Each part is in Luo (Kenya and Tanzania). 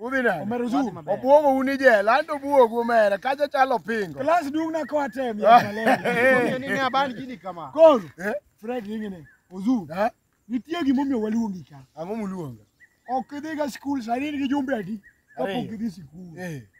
Udhi nade? Omero zoom. Obwogo un ijela, an to obwogu omera, kacha chalo pingo. Klas dung na kwa tem ya malele. Ni ne aban gini kama. Koro. Eh? Fred ingene. Ozu. Eh? Nitie gima omiyo waluongi ka. Ang'o muluonga? Ok idhiga skul sani in gi jumbe adi? Kapok idhi sikul. Eh.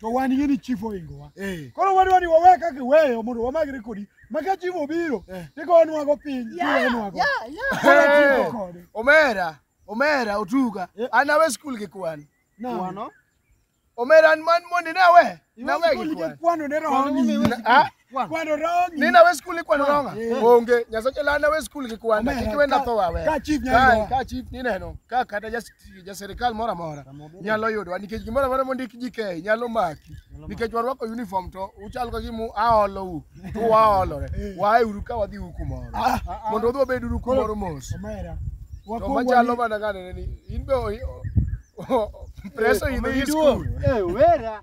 to wan yie ni chief ohingowa Eh. koro wadwa ni wawe kaka iweyo mondo wamagre kodi ma ka chief obiro Eh. tigonwago piny tiwenwago Hey, kode. omera omera otuga Eh. an awe skul gi kwan Nani? omera an man mondi ne awe Iwe nawe skul gi gi kwan kwano ne roho Kwano ni- momiwe Na- ah, Kwan. Kwano rongi. Ni nawe skul ikwano ronga? Eh. Onge. Nyasache la nawe skul gi kwano. Omeya, Kik wenda ka- tho wawe. ka chief nyalo Ka- yudowa. Ka chief ni neno. Ka kata jas- jaserikal moro amora nyalo yudowa nikech gimoro amora mondik ji kei nyalo maki. Nikech warwako uniform to uchal ka gimu aolou. To waolore. Waeuru ka wadhi u kumoro. Ah, ah, Mondo udhi wabed uru kumoro mos. Omera. To Wakuong' machalo wani- mana ng'ane ni in be o- o- o- preso idho i skul. Eh, wera.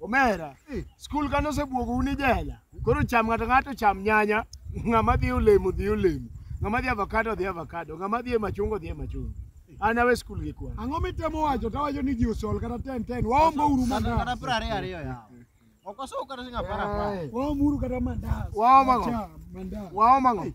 Omera, skul kane osebuogo un ijela. Koro cham ng'ato ng'ato cham nyanya, ng'ama dhi olemo dhi olemo, ng'ama dhi avocado dhi avocado, ng'ama dhi e machungo dhi e machungo. An awe skul gi kwan. Ang'o mitemo wacho tawacho ni ji osol kata ten ten waombo uru Kata kata mandas piero ariyo ariyo yawa. Ok osuw kata siling' apar apar. waom uru kata mandas Waom ang'o? Acha, mandas Waom ang'o?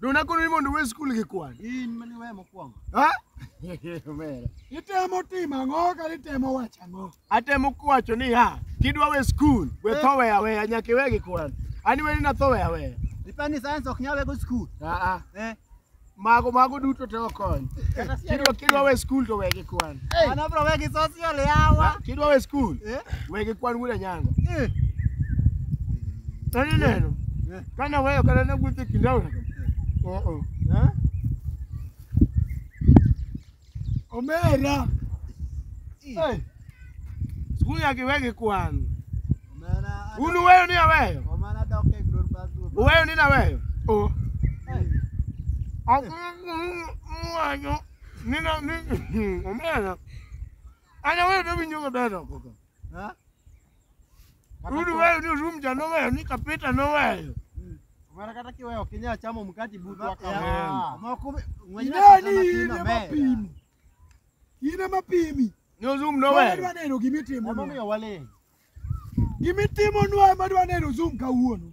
Don akono ni mondo we skul gi kwan. In mani we mokwongo. Ha? Omera. Itemo timo ang'o kata itemo wacho ang'o? Atemo kwacho ni ha, kidwa we skul, we tho we aweya nyaka iwe gi kwan. Ani we ni natho we aweya. Ipani science ok nyal wego skul. Ah ah. Mago mago duto te okony. Kidwa kidwa we skul to we gi kwan. An abro we gi social yawa. Kidwa we skul, we gi kwan wuda nyango. Nani neno? Kane oweyo kata ne wuotho e kind aora. Oo. Eh? Omera. Hey. Skul nyaka iwe gi kwan. Omera. Un uweyo ni aweyo? Omera dok e gror bathroom. Uweyo ni naweyo? Oo. Awanyo. Nina ni omera. Ana wewe ndio winyo maber oko. Ha? Rudi wewe ni room ja no wewe ni kapita no wewe. Mara kata kiwe okinya chamo mkati butu wako. Yeah. Moko mwenyewe Inani kama ina kina mea. mapimi. Ina mapimi. Ni room no Wadwa wewe. neno gimitimo. Mama nwa. mia wale. Gimitimo nwa ema dwa neno zoom kawuono.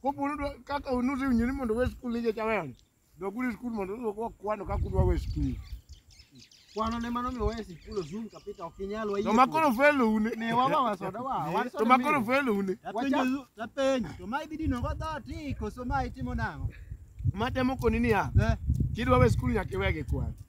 Koponi dwa- kaka unusi unyini mondo we skul ije chaweon. Doguri skul mondo uwe kwa kwano kaka udwa we skul. Kwano ne mano miyo wesi kulo zoom kapita ok inyal wayie. To makoro felo une. ne wawa wasoda wa. wan soda To makoro mili. felo une. Tapenjo tapenjo to ma ibidi no godho ti koso ma itimo nang'o? Matemo koni niya, Eh. kidwa we skul nyaka iwege kwano.